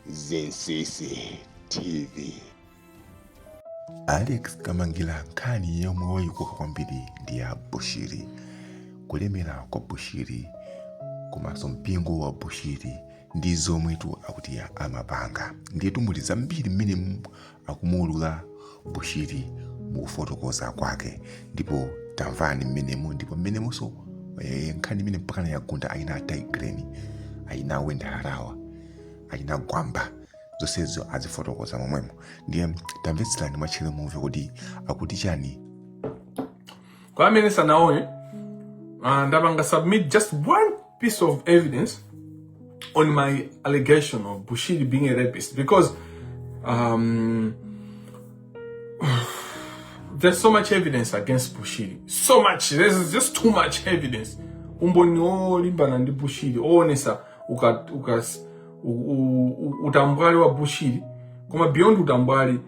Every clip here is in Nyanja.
Zinsisi TV. Alex Kamangila nkhani yomwe wayikuka kwambiri ndi ya Bushiri. Kulemera kwa Bushiri komanso mpingo wa Bushiri ndi zomwetu akuti amapanga. Ndiyetu muli zambiri mmene akumuulula bushiri mukufotokoza kwake ndipo tamvani mmenemo ndipo mmenemonso eh, nkhani imene mpakana yagunda achina tay grin achina wendy harawa achina gwamba zonsezo azifotokoza momwemo ndiye tamvetserani mwatcheru mumve kuti akuti chani kwa amene sanaone uh, ndapanga submit just one piece of evidence on my allegation of bushiri being a rapist because um, there's so much evidence against bushiri so much there's just too much evidence umboni olimbana ndi bushiri oonesa uka, uka, utambwali wa bushiri koma beyond utambwali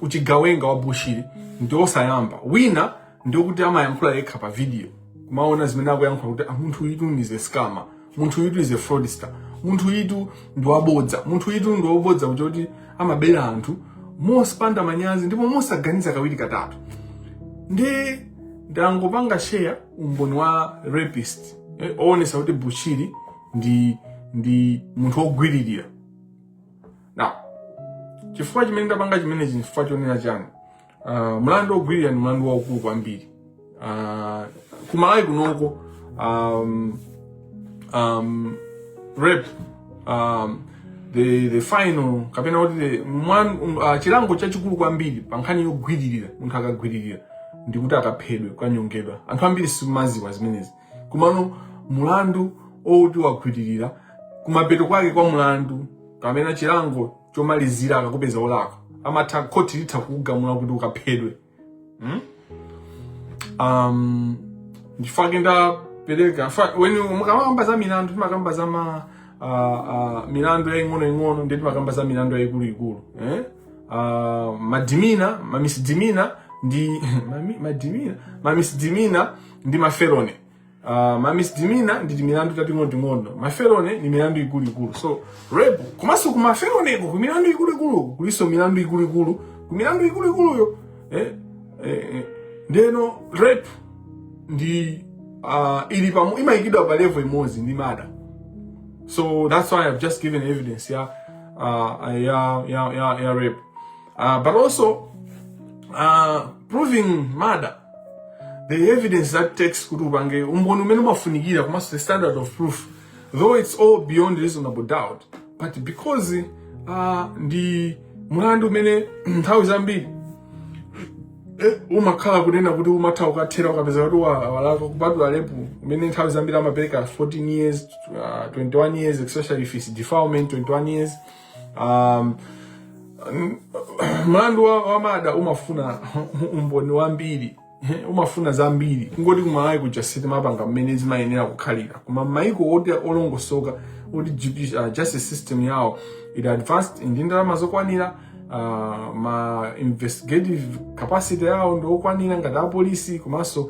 uchigawenga wa bushiri ndi osasimbika wina ndiokuti amayankhula yekha pa video kumaona zimene akuyankhula kuti ah, munthu uyutu is a scammer munthu uyutu is a fraudster munthu uyutu ndi wabodza munthu uyutu ndi wabodza kuti amabera anthu mosapanda manyazi ndipo mosaganiza kawiri katatu ndi ndangopanga share umboni wa rapist eh, oonesa kuti bushiri ndi ndi munthu wogwiririra now chifukwa chimene ndapanga chimenechi chifukwa chonena chani uh, ah, mlandu wogwiririra ndi mlandu waukulu kwambiri uh, ah, kumalawi kunoko um, um, rape um, the, the final kapena kuti the mwan, um, uh, chilango chachikulu kwambiri pa nkhani yogwiririra munthu akagwiririra ndikuti akaphedwe kukanyongedwa anthu ambiri simumadziwa zimenezi komano mulandu oti wagwiririra kumapeto kwake kwa mulandu kapena chilango chomalizira akakupeza olakwa amatha khoti litha kukugamula kuti ukaphedwe hmm? um, ndi chifukwa chake ndapereka when mukamakamba za milandu timakamba za ma uh, uh, milandu yaing'ono ing'ono ndi timakamba za milandu yaikuluikulu eh? uh, mademeanor mamisdemeanor ndi mami- mademeanor mamisdemeanor ndi mafelony uh, ma misdemeanor ndi timilandu tating'onoting'ono mafelony ni milandu ikuluikulu so rape komanso ku mafelonyko ku milandu ikuluikulu kulinso milandu ikuluikulu ku milandu ikuluikuluyo eh, eh, eh. ndeno rape ndi uh, ili pamu imayikidwa pa level imodzi ndi murder so that's why i've just given evidence ya uh, ya ya ya, ya rape Uh, but also, uh, proving murder, the evidence that takes kuti upange umboni umene umafunikira komanso the standard of proof though it's all beyond reasonable doubt but because uh, ndi mlandu umene nthawi zambiri eh, umakhala kunena kuti umatha ukathera ukapeza kuti walakwa kupatula rape umene nthawi zambiri amapereka 14 years uh, 21 years especially if it's defilement 21 years um, mlandu wa, wa murder umafuna umboni wambiri umafuna zambiri kungoti kumalawi kuja sitimapanga mmene zimayenera kukhalira koma maiko oti olongosoka oti judici- uh, justice system yawo ili advanced ndi ndalama zokwanira uh, ma investigative capacity yawo ndi okwanira ngati apolisi komanso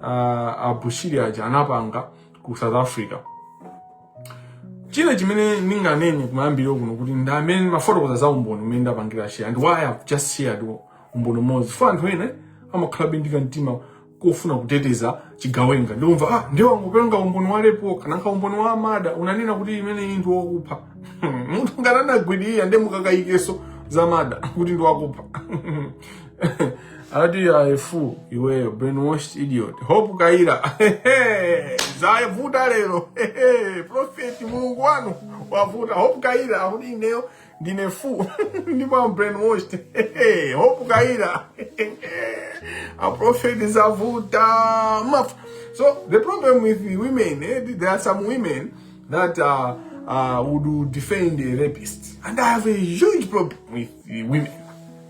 uh, abushiri aja anapanga ku south africa china chimene ndinganene kumayambiriro kuno kuti ndi amene mumafotokoza;? za umboni umene ndapangira share and why i've just shared umboni umodzi fo anthu ene amakhala bindika mtima kofuna kuteteza chigawenga ndikumva ah ndiye wangopenga umboni wa lepo kananka umboni wa amada unanena kuti imene iyi ndi wakupha munthu ngati anagwidira ndiye mukakayikenso za mada kuti ndi wakupha Adi ya efu iweyo brainwashed idiot. Hope Kaira. Zavuta lero. Prophet Mulungu wanu wavuta. Hope Kaira akuti ineyo ndine fu ndipo am brainwashed. Hope Kaira. A prophet zavuta. Maf. So the problem with the women, eh, there are some women that uh, uh, would defend a rapist. And I have a huge problem with the women.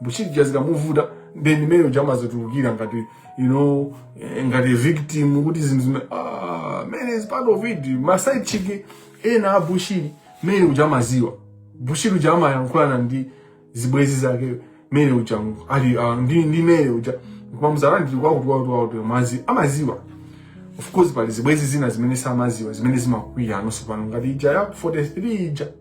bushiri uja zikamuvuta then mary uja amazotulukira ngati you know eh, ngati victim kuti zinthu zime ah, mary is part of it maside chick ena a bushiri mary uja amaziwa bushiri uja amayankhulana ndi zibwezi zake mary uja ali ah, ndi ndi mary uja kumamuzana ndi kwa kuti watu watu mazi amaziwa of course pali zibwezi zina zimene samaziwa zimene zimakwiya anonso pano ngati ija ya 43 ija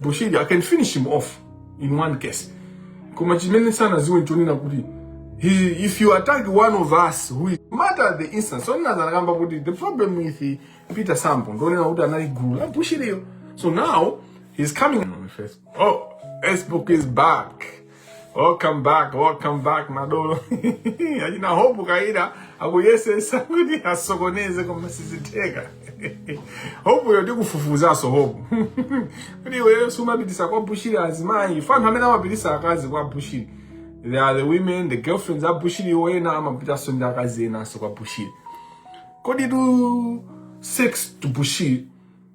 bushiri i can finish him off in one case koma chimene sanaziwe nchonena kuti he, if you attack one of us who is matter the instance so nina zanakamba kuti the problem with peter sambo ndonena kuti anali gulu la bushiriyo so now he's coming on facebook oh facebook is back Welcome back, welcome back madolo. Achina hope kaida akuyesesa kuti asokoneze koma sizitheka. Hope yo ndikufufuzaso hope. Kuti iwe sumapitisa kwa Bushiri azimayi. Fa anthu amene amapitisa akazi kwa Bushiri. They are the women, the girlfriends a Bushiri iwo ena amapitaso ndi akazi enaso kwa Bushiri. Kukadyetsa sex to Bushiri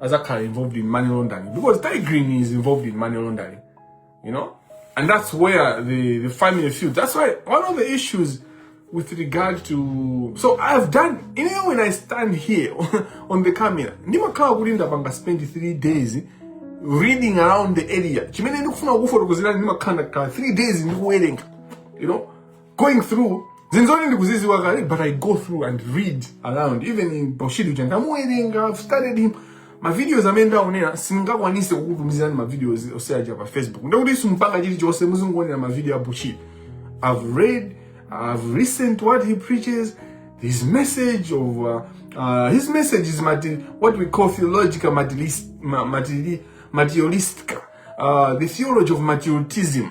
azakhala involved in money laundering because Tay Grin is involved in money laundering you know and that's where the the family feud that's why one of the issues with regard to so i've done you know when i stand here on the camera ndimakhala kuti ndapanga spend three days reading around the area chimene ndikufuna kufotokozerani ndimakhala ndakhala three days ndikuwerenga you know going through zinzoni ndikuziziwa kale but i go through and read around even in paushiri uja ndamuwerenga i've studied him mavideos amene ndaonera sindingakwanise kukutumizirani mavideos onse aja pa facebook ndekuti simpanga chilichonse muzingoonera mavideo a bushiri i've read i've listened to what he preaches his message of uh, uh, his message is mati- what we call theological materialist, ma- materi- materialistic uh, the theology of materialism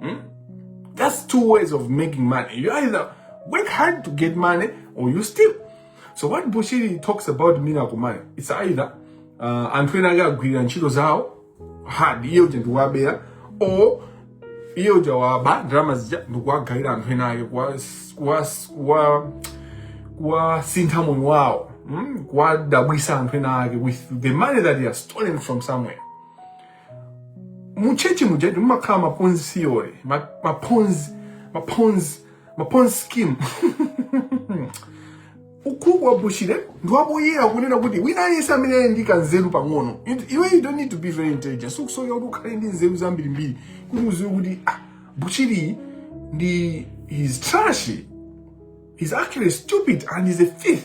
Hmm? There's two ways of making money. You either work hard to get money or you steal. So what Bushiri talks about miracle money, it's either uh, anthu ena ake agwirira ntchito zawo hard iye uja ndikuwabera or iye uja waba ndalama zija ndikuwagawira anthu ena ake kuwasintha moyo wawo hmm? kuwadabwisa anthu ena ake with the money that he has stolen from somewhere muchechi mujetu mumakhala maponzi theory ma- maponzi maponzi maponzi scheme ukuba wa bushiri ndi wapoyera kunena kuti wina aliyense amene ali ndi kanzeru pang'ono It- iwe you don't need to be very intelligent sukusowekera kuti ukhale ndi nzeru zambirimbiri kuti uziwe kuti ah, bushiri ndi he's trashy he's actually stupid and he's a thief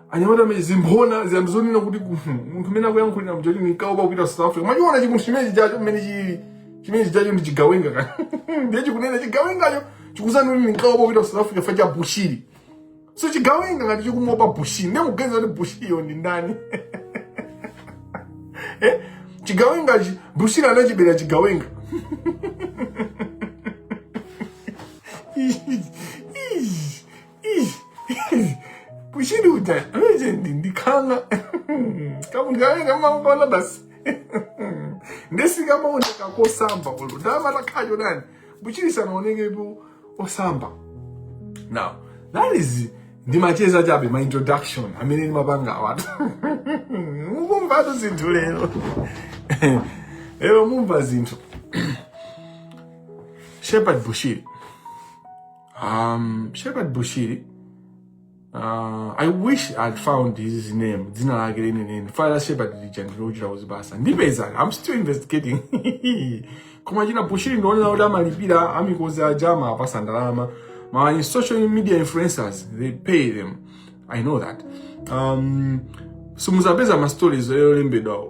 anyamata amene zimphona zija mzonena kuti "Mhm, munthu amene akuyankhulira mjati ndinkaopa kupita south africa mwachiona chimunthu chimene chijacho mmene chili chimene chijacho ndi chigawenga ka ndiye chikunena chigawengacho chikuzanena kuti ndinkaopa kupita south africa facha bushiri so chigawenga ngati chikumuopa bushiri ndiye mukuganiza kuti bushiriyo ndi ndani eh? chigawengachi bushiri anachibera chigawenga bushiri uja manje ndikhanga kabungane kamangona basi nde sikamaoneka kosamba olo ndamata khacho nani bushiri sanaonekepo osamba now that is ndimacheza chabe ma introduction amene ndimapanga awatu mukumvatu zinthu lero lero mumva zinthu shepherd bushiri Um, Shepherd Bushiri, uh, I wish I had found his name. Dzina lake lenileni. Fukwa la Shepherd lija ndi lochita kuzipasa. Ndipeza, I'm still investigating. Koma achina Bushiri ndionera kuti amalipira a Mikozi aja amawapasa ndalama. Ma social media influencers, they pay them. i know that um, simuzapeza ma stories yolembedwa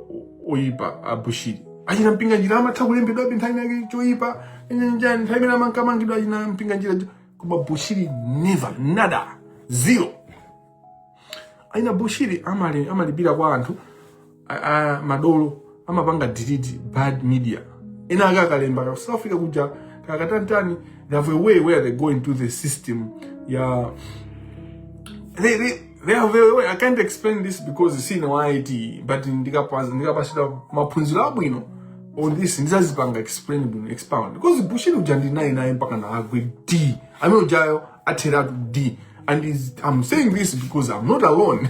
oyipa abushiri achina mpinganjira amatha kulembedwabe nthawi ina yake choyipa njani nthawi imene amankamangidwa achina mpinganjira koma bushiri never nada zero achina bushiri amali amalipira kwa anthu a madolo amapanga delete bad media ena ake akalemba ku south africa kuja kakatantani they have a way where they go into the system yeah they, they, they have a way i can't explain this because sine wa it but ndikapa- ndikapasidwa maphunziro abwino on this ndizazipanga explain bwino expound because bushiri uja ndinayi naye mpaka naagwe di amene ujayo atheratu di and is, i'm saying this because i'm not alone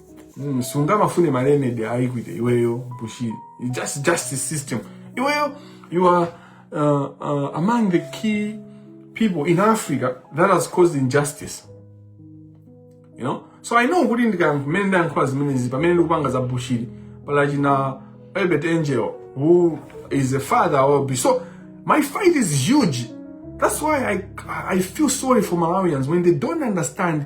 Mm, sungamafune ma remedy a equity iweyo bushiri just justice system iweyo you are uh, uh, among the key people in africa that has caused injustice you know so i know kuti ndikamene ndayankhula zimenezi pamene ndikupanga za bushiri pali achina uebert angel who is a father of b so my fight is huge that's why i, I feel sorry for malawians when they don't understand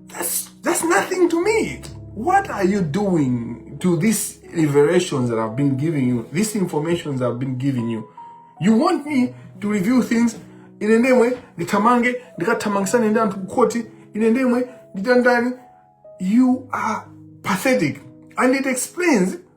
That's, that's nothing to me. What are you doing to these revelations that I've been giving you, these informations I've been giving you? You want me to reveal things ine ndemwe ndithamange ndikathamangisane ndi anthu kukhoti ine ndemwe nditantani you are pathetic and it explains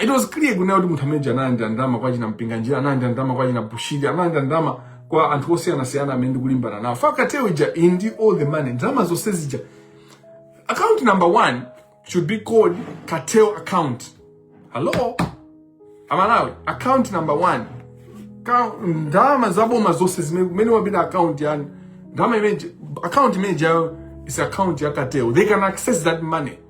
It was clear kunena kuti munthu amene analandira ndalama kwa achina Mpinganjira, analandira ndalama kwa achina Bushiri, analandira ndalama kwa anthu osiyanasiyana amene ndikulimbana nawo. Fukwa cartel ija ili ndi all the money, ndalama zonse zija. Account number one should be called cartel account. Hello? Amalawi, account number one. Ka- Ndalama za boma zonse zimene kumene wapita account yani. Ndalama imene account imene ijayo is account ya cartel. They can access that money.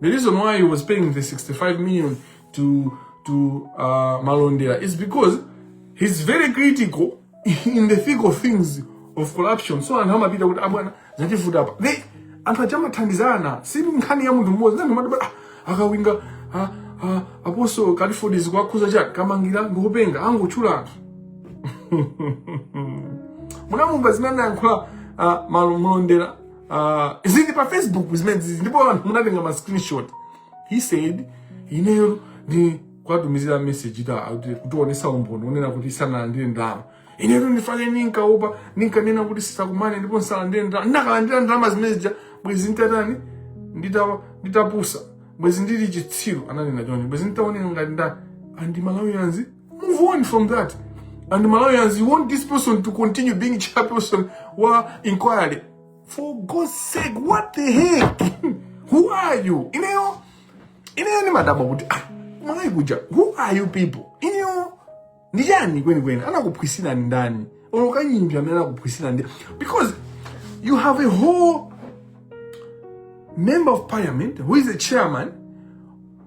The reason why he was paying the 65 million to to uh, Malondera is because he's very critical in the thick of things of corruption. So anthu amapita kuti abwana zativuta apa. Then anthu aja amathandizana si nkhani ya munthu mmodzi ndiye amati ah, akawinga ah, ah, Apostle Clifford zikuwakhudza chani Kamangila ngopenga angotchula anthu munamumva zimene anayankhula uh, Malondera uh, zili pa facebook zimenezi ndipo anthu munatenga ma screenshot he said ineyo ndikuwatumizira message ija akuti kutionetsa umboni unena kuti sindinalandire ndalama inetu nchifukwa ninkaopa ninkanena kuti tisakumane ndipo nsalandire ndalama ndinakalandira ndalama zimene zija bwezi nditatani ndita- nditapusa bwezi ndili chitsiru ananena choncho bwezi nditaoneka ngati ndani and Malawians move on from that and malawians you want this person to continue being chairperson wa inquiry for god's sake what the heck who are you ineyo ineyo ndimadabwa kuti ah, amalawi kuti who are you people ineyo ndi chani kwenikweni anakuphwisirani ndani olo kanyimbi amene anakuphwisirani ndani because you have a whole member of parliament who is a chairman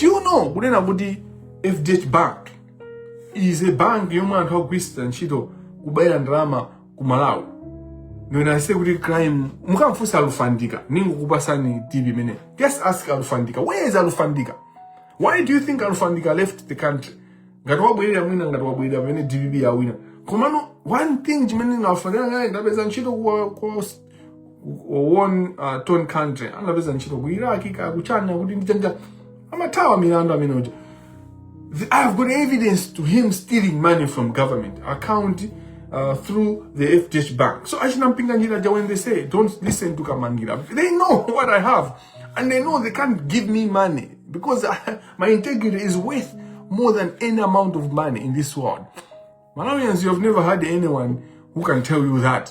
do you know kunena kuti fdh bank is a bank yomwe anthu akugwiritsa ntchito kubera ndalama ku malawi when i say kuti crime mukamfunsa alufandika ningokupasani tip imeneyo just ask alufandika where is alufandika why do you think alufandika left the country ngati wabwerera mwina ngati wabwerera pamene dpp yawina komano one thing chimene alufandika ngati anapeza ntchito kwa, kwa won uh, ton country angapeza ntchito ku iraq ka ku china kuti ndichanja amathawa milandu amene uja The- i have got evidence to him stealing money from government account uh, through the fdh bank so achina mpinganjira ja when they say don't listen to kamangira they know what i have and they know they can't give me money because I, my integrity is worth more than any amount of money in this world malawians you have never had anyone who can tell you that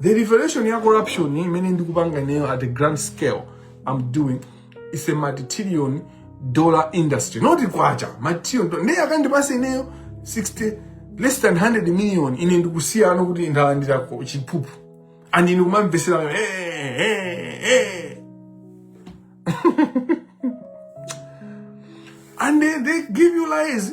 the revelation ya corruption imene ndikupanga ineyo at a grand scale i'm doing is a multi-trillion dollar industry not kwacha multi-trillion dollar ndiye akandipasa ineyo 60 less than 100 million ine nkusiya kuti ndalandirako chiphuphu and ine kumamvetsera hey, hey, hey. and they, they give you lies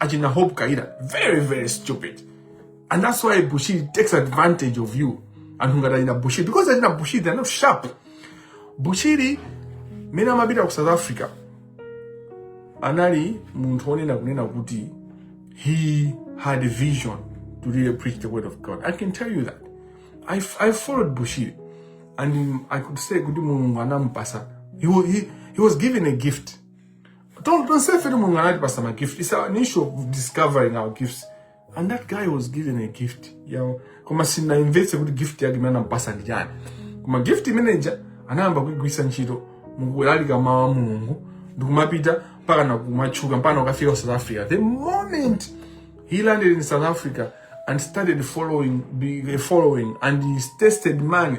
achina hope kaira very very stupid and that's why bushiri takes advantage of you anthu ngati achina bushiri because achina bushiri they're not sharp bushiri mene amapita ku south africa anali munthu onena kunena kuti he had a vision to really preach the word of god i can tell you that i, f- I followed bushiri and um, i could say kuti mulungu anamupasa he, wa- he, he was given a gift Don't, don't say eti Mulungu anatipatsa ma gift. It's an issue of discovering our gifts. And that guy was given a gift. You know, koma sanaimvetse kuti gift yake imene anampatsa ndi chani. Koma gift imene ija anayamba kuigwiritsa ntchito mukulalika mawu a Mulungu ndikumapita mpaka na kumatchuka mpaka na kukafika ku South Africa. The moment he landed in South Africa and started following, be- following and he tasted money.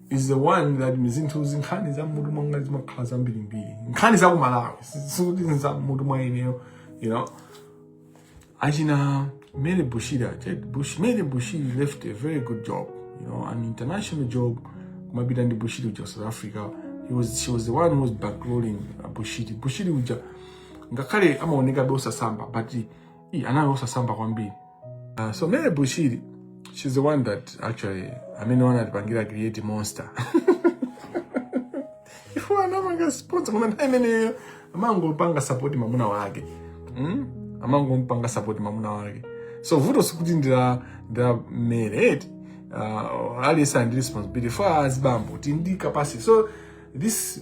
is the one that zinthu zinkhani za m'mutu mwanga zimakhala zambirimbiri nkhani za kumalawi sikuti za m'mutu mwa ineyo you know achina mary bushira Bush, mary bushiri left a very good job you know an international job kumapita ndi bushiri uja ku south africa he was, she was the one who was bankrolling uh, bushiri bushiri uja ngakhale amaoneka bosasamba but Ih, anali osasamba kwambiri uh, so mary bushiri she's the one that actually amene anatipangira create monster ife anapanga sponsor koma nthawi imeneyo amangopanga support mamuna wake mm? amangompanga support mamuna wake so vuto sikuti ndi la ndi la mary eti uh, aliyense ali ndi responsibility koma azibambo tindi capacity so this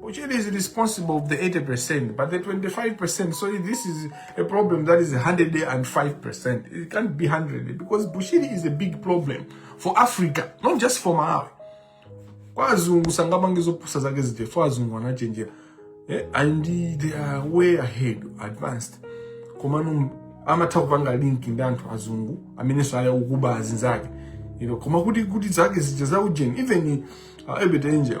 Bushiri is responsible of the 80%, but the 25%, so this is a problem that is 105%. It can't be 100 because Bushiri is a big problem for Africa, not just for Malawi. Kwa azungu sangapange zopusa zake zija, for azungu anachenjera. Eh, and they are way ahead, advanced. Komano amatha kupanga link ndi anthu azungu amenenso ali akuba azinzake. You know, koma kuti kuti zake zija za ujeni, even uh, Uebert Angel,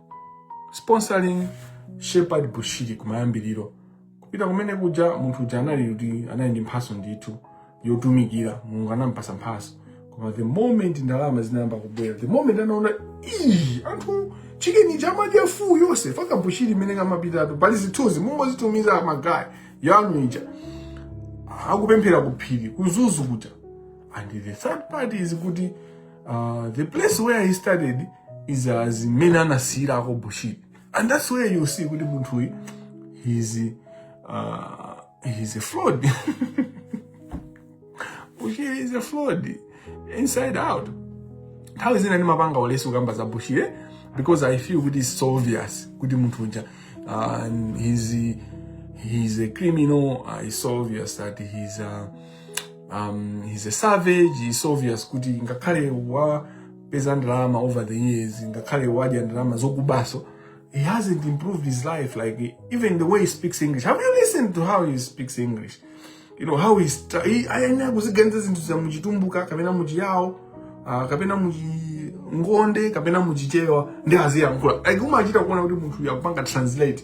sponsoring Shepherd Bushiri kumayambiriro kupita kumene kuja munthu uja anali kuti anali ndi mphatso ndithu yotumikira mulungu anampatsa mphatso koma the moment ndalama zinayamba kubwera the moment anaona ii anthu chicken chomadya fuu yonse faka Bushiri mmene ankapitatu pali zithunzi mungozitumiza magaye inu ija akupemphera kuphiri ku Mzuzu kuja and the third part is kuti Uh, the place where he studied is uh, zimene anasiyirako bushiri and that's where you see kuti munthuyi he's, uh, he's a fraud bushiri is a fraud inside out nthawi zina ndimapanga ulesi ukamba za bushiri eh? because i feel kuti it's so obvious kuti munthu uja uh, he's, he's a criminal uh, it's so obvious that he's uh, um, he's a savage it's obvious kuti ngakhale wapeza ndalama over the years ngakhale wadya ndalama zokubaso he hasn't improved his life like even the way he speaks english have you listened to how he speaks english you know how he's tra- he ayenera kuziganiza zinthuzo muchitumbuka kapena muchiyawo uh, kapena muchingonde kapena muchichewa ndiye aziyankhula like umachita kuona kuti munthu uyu akupanga translate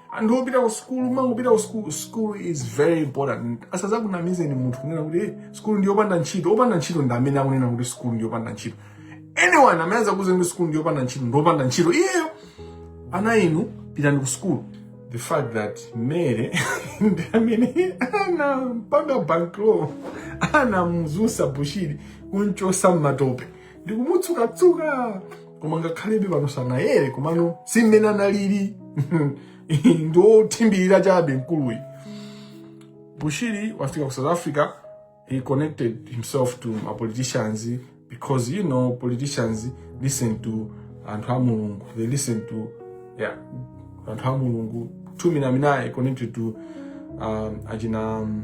anthu opita ku sukulu muzingopita ku sukulu sukulu is very important asazakunamizeni munthu kunena kuti eh, sukulu ndi yopanda ntchito opanda ntchito ndi amene akunena kuti sukulu ndi yopanda ntchito anyone amene azakuuze kuti sukulu ndi yopanda ntchito ndi opanda ntchito iyeyo ana inu pitani ku sukulu the fact that mary ndi amene anampanga bankroll anamuzutsa bushiri kumchosa mmatope ndikumutsukatsuka koma ngakhalebe pano sanayere komano si mmene analili ndi wothimbirira chabe mkuluyi bushiri wafika ku south africa he connected himself to ma politicians because you know politicians listen to anthu a mulungu they listen to yeah anthu a mulungu ndi m'mene anali connected to um, achina um,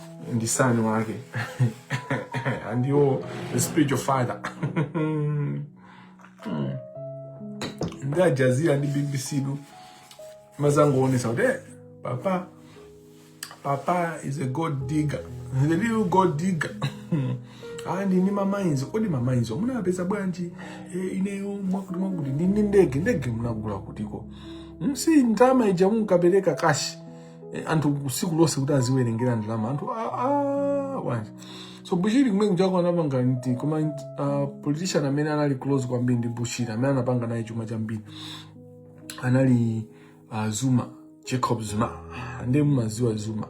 ndi son wake and you the spiritual father ndi Al Jazeera ndi bbc imazangoonesa kuti eh, papa papa is a gold digger the little gold digger andi ni mamainzi kodi mamainzi munapeza bwanji eh, ineyo mwakuti mwakuti ndi ndi ndege ndege munagula kutiko Mm, si ndama ija munkapereka kashi Eh, anthu usiku lonse kuti aziwerengera ndalama anthu ah, ah, bwanji so bushiri kumene kujako anapanga nti koma uh, politician amene anali close kwambiri ndi bushiri amene anapanga naye chuma chambiri anali uh, zuma jacob zuma Ah, ndiye mumaziwa zuma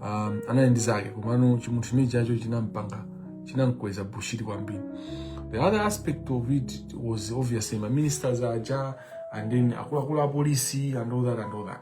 um, anali ndi zake komano chimunthu chimene chijacho chinampanga chinamkweza bushiri kwambiri the other aspect of it was obviously ma ministers aja and then akuluakulu a polisi and all that and all that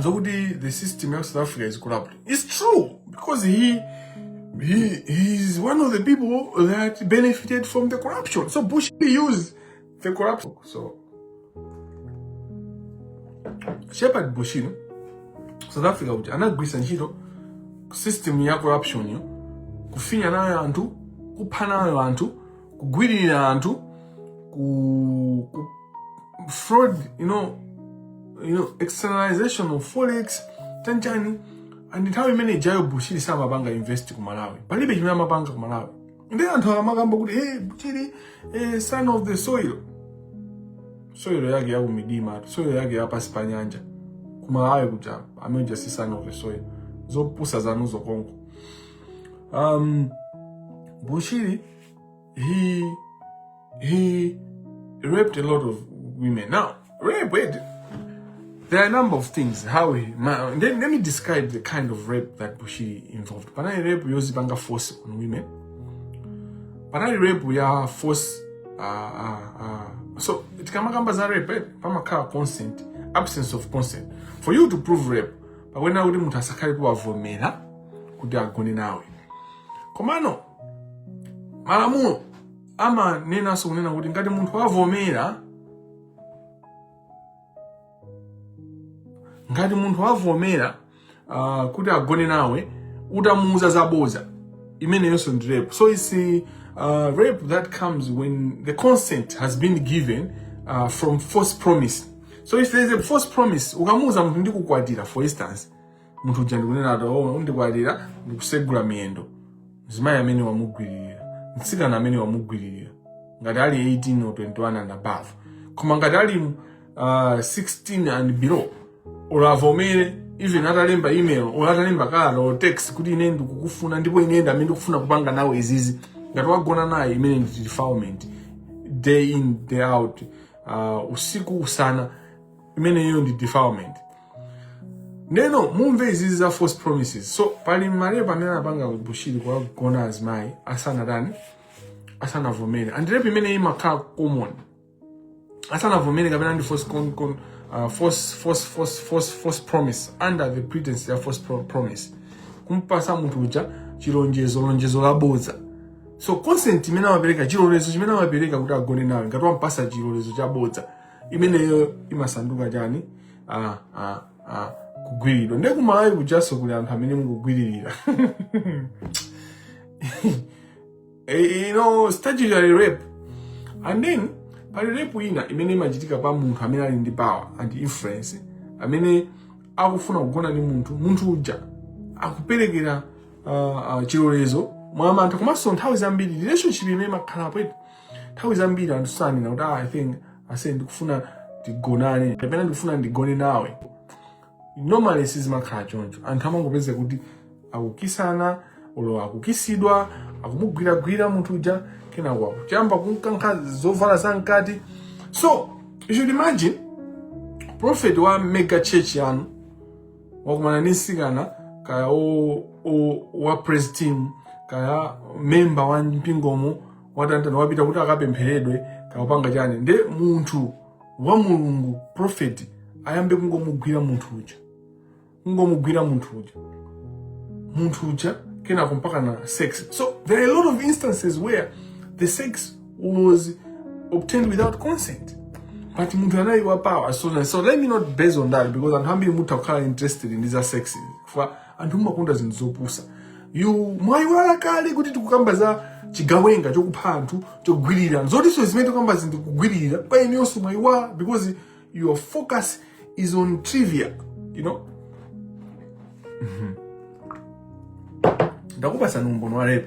zokuti the system ya south africa is corrupt its true because he he he's one of the people that benefited from the corruption so bush used the corruption so shepherd bushiri in south africa kuti anagwiritsa ntchito system ya corruption yo kufinya nayo anthu kupha nayo anthu kugwiririra anthu ku, ku fraud you know, you know, externalization of forex chanchani and nthawi imene ijayo bushiri samapanga invest ku malawi palibe chimene amapanga ku malawi nde anthu akamakamba kuti hey, bushiri eh, son of the soil soil yake yakumidima soil yake yapansi pa nyanja ku malawi kuja amene uja si son of the soil zopusa zanuzo konko Um, Bushiri, he he raped a lot of women. Now, rape, wait, there are a number of things. How he, ma, let, let me describe the kind of rape that Bushiri involved. Panali rape yozipanga force on women. Panali rape ya force uh, uh, uh. so tikamakamba za rape eh, pamakhala consent absence of consent for you to prove rape pakuyenera kuti munthu asakhale kuwavomera kuti agone nawe komano malamulo amanenanso kunena kuti ngati munthu wavomera ngati munthu wavomera uh, kuti agone nawe utamuuza zaboza imeneyonso ndi rape so it's uh, rape that comes when the consent has been given uh, from false promise so if there is a false promise ukamuuza munthu ndikukwatira for instance munthu uja ndikunena ati oh, undikwatira ndikusegula miyendo mzimayi ameneyo wamugwiririra mtsikana ameneyo wamugwiririra ngati ali 18 or 21 and above koma ngati ali uh, 16 and below olo avomere even atalemba email or atalemba kalata or text kuti ine ndikukufuna ndipo ine ndamene ndikufuna kupanga nawe izizi ngati wagona naye imeneyo ndi defilement day in day out uh, usiku usana imeneyo ndi defilement neno mumve izizi za false promises so pali ma rape amene anapanga bushiri kuwagona azimayi asanatani asanavomere and rape imene imakhala common asanavomere kapena ndi false, con, con, uh, false, false, false, false, false promise under the pretense ya false pro promise kumpatsa munthu uja chilonjezo lonjezo labodza so consent imene amapereka chilolezo chimene amapereka kuti agone nawe ngati wampatsa chilolezo chabodza imeneyo imasanduka chani ah, ah, ah, kugwiridwa nde ku Malawi kujanso kuli anthu amene mukugwiririra Eh, you know statutory rape and then pali rape ina imene imachitika pa munthu amene ali ndi power and influence amene akufuna kugona ndi munthu munthu uja akuperekera uh, uh, chilolezo mwamantha komanso nthawi zambiri relationship imene imakhalapo eti nthawi zambiri anthu sanena kuti ah, i think ase ndikufuna tigonane kapena ndikufuna ndigone nawe normally sizimakhala choncho anthu amangopeza kuti akukisana olo akukisidwa akumugwiragwira munthu uja kenako akuyamba kumkankha zovala za mkati so you should imagine prophet wa mega church yanu wakumana ndi msikana kaya o- o- wa praise team kaya memba wa mpingomo watantana wapita kuti akapempheredwe kaya kupanga chani nde munthu wa mulungu profeti ayambe kungomugwira munthu uja kungomugwira munthu uja munthu uja kenako mpaka na sex so there are a lot of instances where the sex was obtained without consent but munthu anali wa power so, so let me not base on that because anthu ambiri mutha kukhala interested ndi za sex chifukwa anthu mumakonda zinthu zopusa yu mwayiwala kale kuti tikukamba za chigawenga chokupha anthu chogwiririra zotinso zimene tikukamba zinthu kugwiririra kwa inu yonse mwayiwala because your focus is on trivia you know ndakupatsani umboni wa rape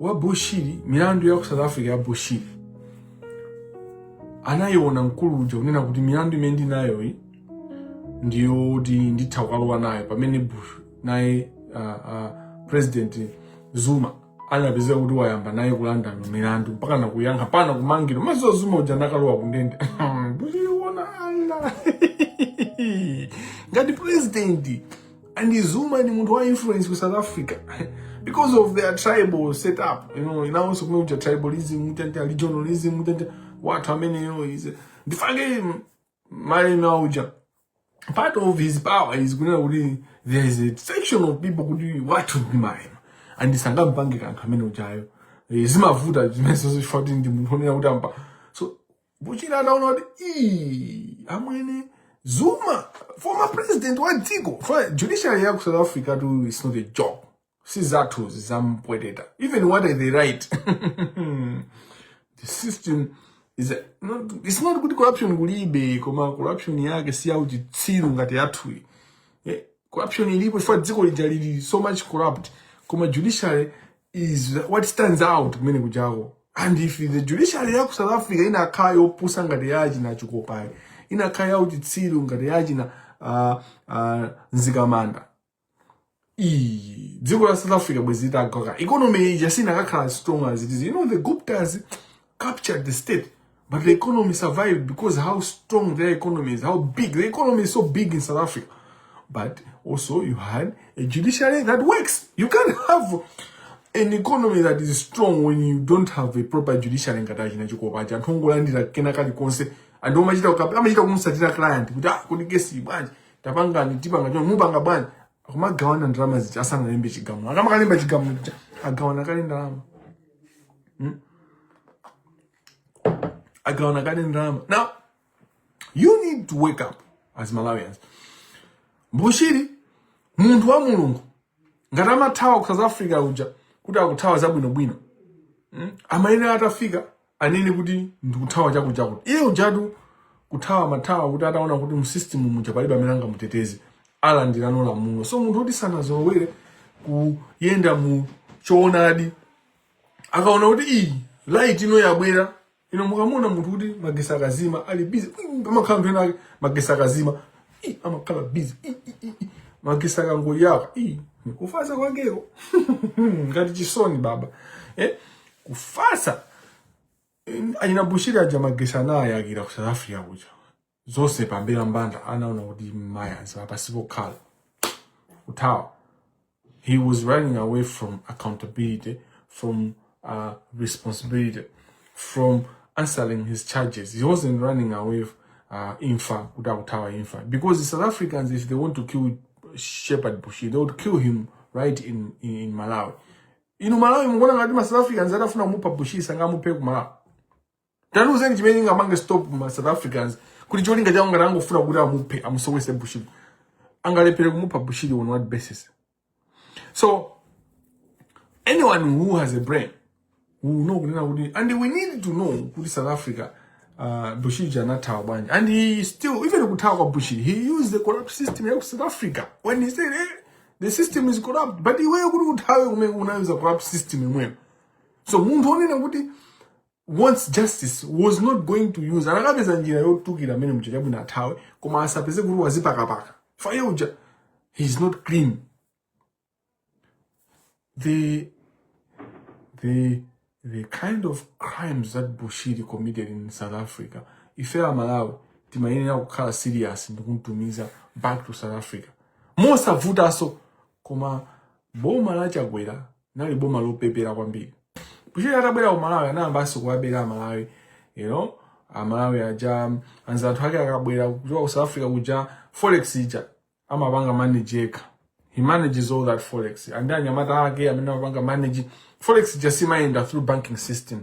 wa bushiri milandu ya ku south africa ya bushiri anayiona mkulu uja kunena kuti milandu imene ndinayoyi ndiyoti nditha kukalowa nayo pamene bush naye uh, uh, president zuma anapezeka kuti wayamba naye kulandira milandu mpaka nakuyankha mpaka kumangidwa mukudziwa zuma uja anakalowa kundende bushiri kuona ah ngati president And Zuma ndi munthu wa influence ku South Africa because of their tribal setup. You know, nawonso komwe kuja tribalism, mutani tani regionalism, mutani tani anthu amene yo is. Ndifanso Malema uja. Part of his power is kunena kuti there is a section of people kuti watu ndi Malema. And sangampange kanthu ameneujayo. Eh, Zimavuta zimenezo chifukwa choti ndi munthu onena kuti ampa. So Bushiri ataona kuti ii amwene Zuma former president wa dziko Fa- judiciary ya ku South Africa tu is not a joke si zathu zampweteta even what are they right the system is a, not, it's not kuti corruption kulibe koma corruption yake si yauchitsiru ngati yathuyi Eh, corruption ilipo chifukwa dziko lija lili so much corrupt koma judiciary is what stands out kumene kujako and if the judiciary ya ku south africa inakhala yopusa ngati ya achina Chikopayi inakhala ya uchitsiru ngati ya achina uh, uh, Mzikamanda iyi dziko la south africa bwezi litagwaka economy ija sinakakhala strong as it is you know the Guptas captured the state, but the economy survived because how strong their economy is, how big. The economy is so big in South Africa. But also you had a judiciary that works. You can't have an economy that is strong when you don't have a proper judiciary ngati achina Chikopa aja anthu ongolandira kena kalikonse anthu omachita amachita kumutsatira client kuti ah kodi kesi bwanji tapangani tipanga choncho mupanga bwanji akumagawana ndalama zija asanalembe chigamulo akamakalemba chigamulo agawana kale ndalama Hmm? agawana kale ndalama now you need to wake up as malawians Bushiri munthu wa mulungu ngati amathawa ku south africa uja kuti akuthawa zabwinobwino mm? amayenera atafika anene kuti ndikuthawa chakutichakuti iye ujatu kuthawa mathawa kuti ataona kuti mu system muja palibe amene angamuteteze alandira nawo lamuno so munthu woti sanazolowere kuyenda mu choonadi akaona kuti iyi light ino yabwera ino mukamuona munthu kuti magesi akazima ali busy amakhala anthu enaake magesi akazima amakhala busy magesi akangoyaka kufasa kwakeko ngati chisoni baba eh? kufasa eh, anyina Bushiri aja magesi anayakira ku south africa kuja zonse pambalambanda anaona kuti mayazi apa si pokhala kuthawa he was running away from accountability from uh, responsibility from answering his charges he wasn't running away uh, imfa kuti akuthawa imfa because the south africans if they want to kill Shepherd Bushiri they would kill him right in, in, in malawi inu malawi mukuona ngati ma south africans atafuna kumupha Bushiri sangamuphe ku malawi tandiuzeni chimene chingamake stop ma south africans kuti cholinga chawo ngati angofuna kuti amuphe amusowese bushiri angalephere kumupha bushiri on what basis so anyone who has a brain will know kunena kuti and we need to know kuti south africa uh, bushiri uja anathawa bwanji and he still even kuthawa kwa bushiri he used the corrupt system ya ku south africa when he said eh, the system is corrupt but iweyo kuti uthawe kumene unayuza corrupt system yomweyo so munthu wonena kuti once justice was not going to use anakapeza njira yotulukira mmene muja chabwino athawe koma asapeze kuti wazipakapaka fire uja he is not clean the the the kind of crimes that bushiri committed in south africa ife amalawi timayenera kukhala serious ndikumtumiza back to south africa mosavutanso koma boma la chakwera nali boma lopepera kwambiri bushiri atabwera ku malawi anayambanso kuwabera amalawi you know amalawi aja anzathu ake akabwera kuchoka ku south africa kuja forex ija amapanga manage yekha he manages all that forex and anyamata ake amene amapanga manage forex ija siimayenda through banking system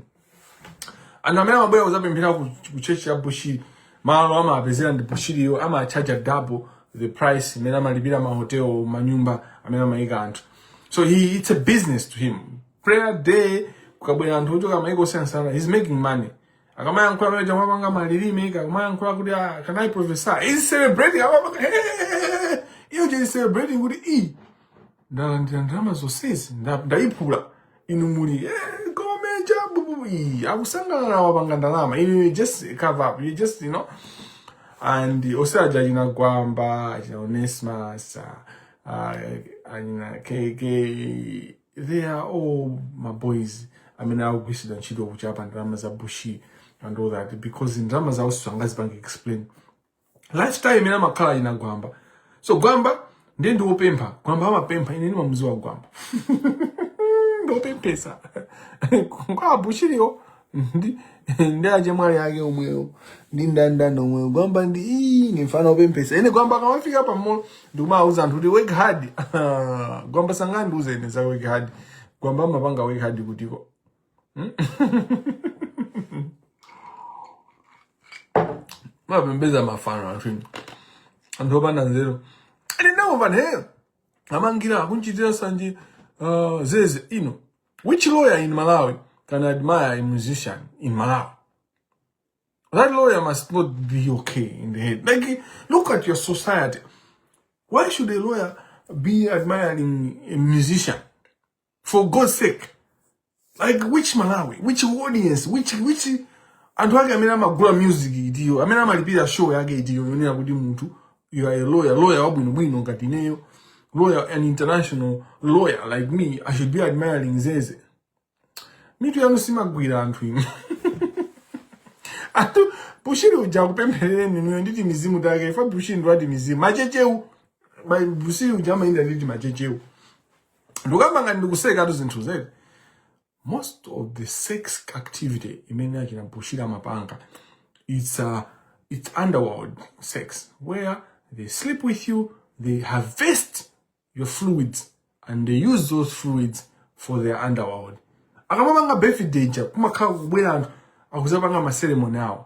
anthu amene amabwera kuzapemphera ku ku church ya bushiri malo amapezera ndi bushiriyo amachaja double the price imene amalipira mahotel manyumba amene amayika anthu so he, it's a business to him prayer day kukabwera anthu ochoka mayiko osiyanasiyana he's making money akamayankhula amene uja amapanga malilime akamayankhula kuti ah, can i prophesy he's celebrating amapanga iyo ije he's celebrating kuti e ndalandira ndalama zonsezi nda- ndayiphula inu muli eh, go major bububu iyi akusangalala wapanga ndalama inu you just cover up you just you know and onse aja achina gwamba achina onesimus achina kk they are all mabois amene akugwiritsidwa ntchito kuchapa ndalama za bushi and all that because ndalama zawo sangazipange explain lifestyle imene amakhala achina gwamba so gwamba ndiye ndiwopempha gwamba amapempha ine ndimamuziwa gwamba ndopemphesa kwa bushiriyo ndi ndi achemwali ake omwewo ndi dada omwewo gwamba ndi ii ni mfana opemphesa ine gwamba akamafika pa mall ndikumawuza anthu kuti work hard gwamba sangandiuze ine za work hard gwamba amapanga work hard kutiko mapembedza mafano anthu inu anthu opanda nzeru ine ndamva neyo amangira akumchitira sanje uh, zeze you know which lawyer in malawi can admire a musician in malawi that lawyer must not be okay in the head like look at your society why should a lawyer be admiring a musician for God's sake like which Malawi which audience which which anthu ake amene amagula music itiyo amene amalipira show yake itiyo yonena kuti munthu you are a lawyer lawyer wabwinobwino ngati ineyo lawyer an international lawyer like me i should be admiring zeze mitu yanu simagwira anthu inu anthu bushiri uja akupempherereni inuyo ndi timizimu take ife bushiri ndi wa timizimu machechewu bushiri uja amayenda ndi timachechewu ndikukamba ngati ndikusekatu zinthu zedi most of the sex activity imene achina bushiri amapanga it's a it's underworld sex where they sleep with you they harvest your fluids and they use those fluids for their underworld akamapanga birthday ja kumakhala kubwera anthu akuzapanga ma ceremony awo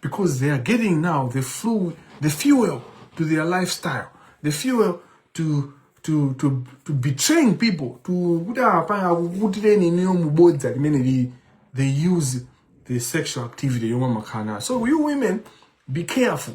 because they are getting now the flu, the fuel to their lifestyle, the fuel to to to to betraying people to kuti apange akukutireni inuyo mubodza limeneli they use the sexual activity yomwe amakhala nayo so you women be careful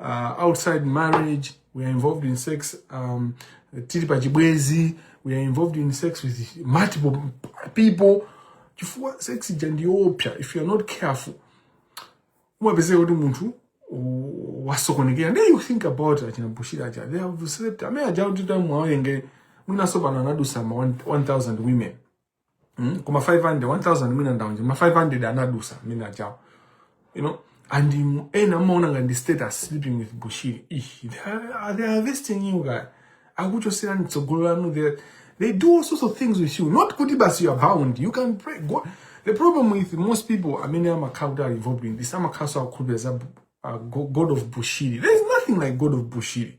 uh, outside marriage we are involved in sex um, tili pa chibwezi we are involved in sex with multiple people chifukwa sex ija ndi yoopsa if you are not careful umapezeka kuti munthu u- wasokonekera nde you think about achina bushiri aja they have slept amene aja kuti tamuwerenge mwinaso pano anadusa ma 1000 women mm? koma 500 1000 mwina ndaonje ma 500 anadusa mwina achawo you know and um, ena amaona ngati ndi status sleeping with bushiri Ih, they are- they are harvesting you guys akuchoserani tsogolo lanu they, they do all sorts of things with you not kuti basi you are bound you can pray go the problem with most people amene amakhala kuti are involved in this amakhalaso akukhulupirira za uh, go- god of bushiri there is nothing like god of bushiri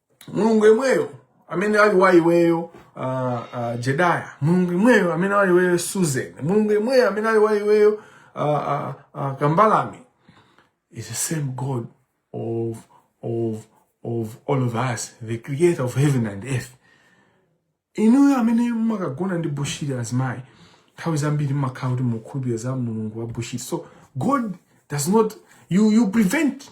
mulungu yemweyo amene ali wa iweyo uh, uh, jedaya mulungu yemweyo amene ali wa iweyo susan mulungu yemweyo amene ali wa iweyo uh, uh, uh, kambalame is the same god of, of, of all of us the creator of heaven and earth inuyo amene mumakagona ndi bushiri azimayi nthawi zambiri mumakhala kuti mukhulupirira za mulungu wa bushiri so god does not you, you prevent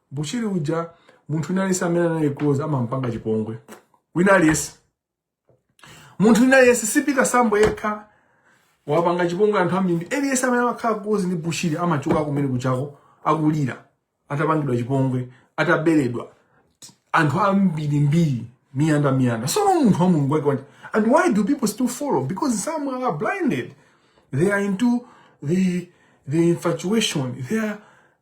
Bushiri uja munthu wina aliyense amene anali close amampanga chipongwe wina aliyense munthu wina aliyense si Peter Sambo yekha wapangidwa chipongwe anthu ambiri aliyense amene amakhala close ndi Bushiri amachoka kumene kuja akulira atapangidwa chipongwe ataberedwa anthu ambiri mbiri miyanda miyanda sono munthu wa mulungu wake uti and why do people still follow because some are blinded they are into the the infatuation they are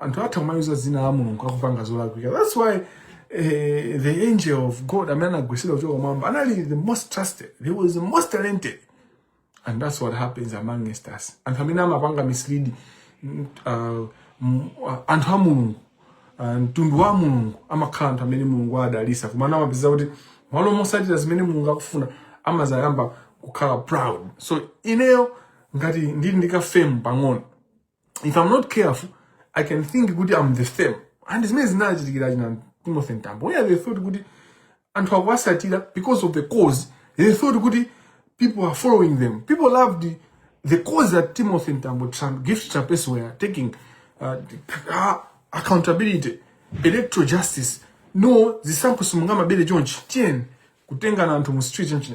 anthu atha kumayuza dzina la mulungu akupanga zolakwika thats why eh, the angel of god amene anagwisidwa kuchoka kumwamba anali the most trusted he was the most talented and that's what happens among us anthu amene amapanga mislead mm, uh, mm, uh, anthu a mulungu uh, mtundu wa mulungu amakhala anthu amene mulungu adawadalisa koma amapezeka kuti m'malo mosatira zimene mulungu akufuna amazayamba kukhala proud so ineyo ngati ndili ndi ka fame pang'ono if i'm not careful i can think kuti i'm the same and zimene zinachitikira china timothy mtambo where they thought kuti anthu akuwasatira because of the cause they thought kuti people are following them people loved the, the cause that timothy mtambo gift trapence were taking uh, uh, accountability electoral justice no zisankho simungama bele chonchi tiyeni kutengana anthu mu street chonchi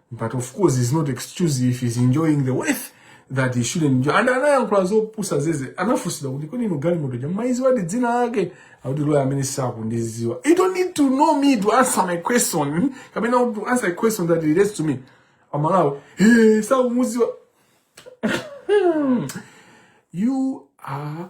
but of course it's not excuse if he's enjoying the wealth that he shouldn't enjoy and anayankhula zopusa zeze anafunsidwa kuti kodi inu galimoto ja mumaiziwa dzina lake akuti loya ameneyo sakundiziwa you don't need to know me to answer my question kapena to answer a question that relates to me amalawi hey, sakumuziwa you are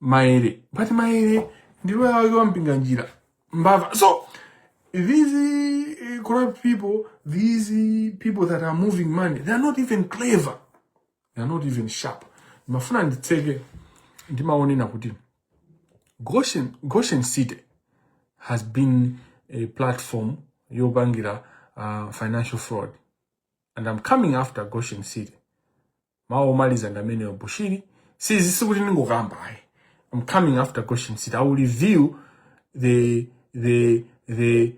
maere pati maere ndi loya wake wa mpinganjira mbava so these uh, corrupt people these uh, people that are moving money they are not even clever they are not even sharp ndimafuna nditseke ndimaonena kuti goshen, goshen city has been a platform yopangira uh, financial fraud and i'm coming after goshen city mawu omaliza ndi amenewo bushiri si sikuti ndingokamba ayi i'm coming after goshen city i will reveal the the the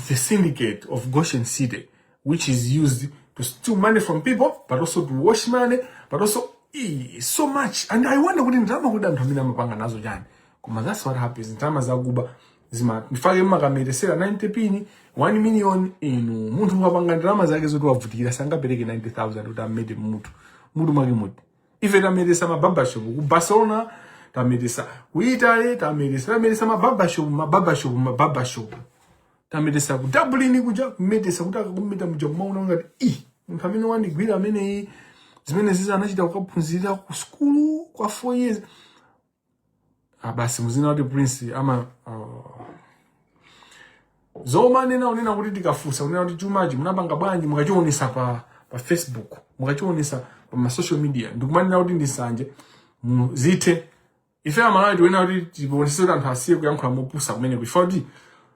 the syndicate of goshen city which is used to steal money from people but also to wash money but also eh, so much and i wonder kuti ndalama kuti anthu amene amapanga nazo chani koma that's what happens ndalama zakuba zija n'chifukwa chake mumakametesera 90 pini 1 million inu munthu wapanga ndalama zake zoti wavutikira sangapereke 90000 kuti amete mutu mutu wake mutu ife tametesa mababashop ku barcelona tametesa ku italy tametesa tametesa mababashop mababashop mababashop tametesa ku dublin kuja kumetesa kuti akakumeta muja kumaona ngati munthu amene wandigwira ameneyi zimene zizi anachita kukaphunzirira ku sukulu kwa 4 years basi ah, muzina kuti prince ama oh. zomanena kunena kuti tikafunsa kunena kuti chumachi munapanga bwanji mukachionesa pa pa facebook mukachionesa pa ma social media ndikumanena kuti ndi sanje muzithe ife amalawi tikunena kuti tiponesese kuti anthu asiye kuyankhula mopusa kumeneko chifukwa choti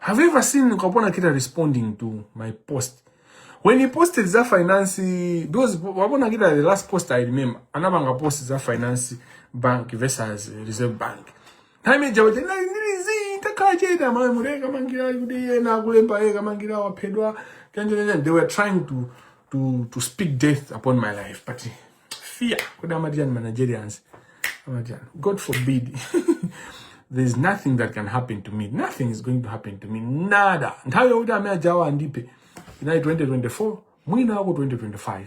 Have you ever seen Kapona Kita responding to my post? When he posted za finance, because Kapona Kita, the last post I remember, anabanga post za finance bank versus reserve bank. Time jawo jena ndirizi takacheta mwe mureka mangira yude na kulemba eka mangira wapedwa. They were trying to to to speak death upon my life, but fear kodi amatian managerians amatian god forbid there's nothing that can happen to me nothing is going to happen to me nada nthawi yokuti amene ajawa andipe inali 2024 mwina wako 2025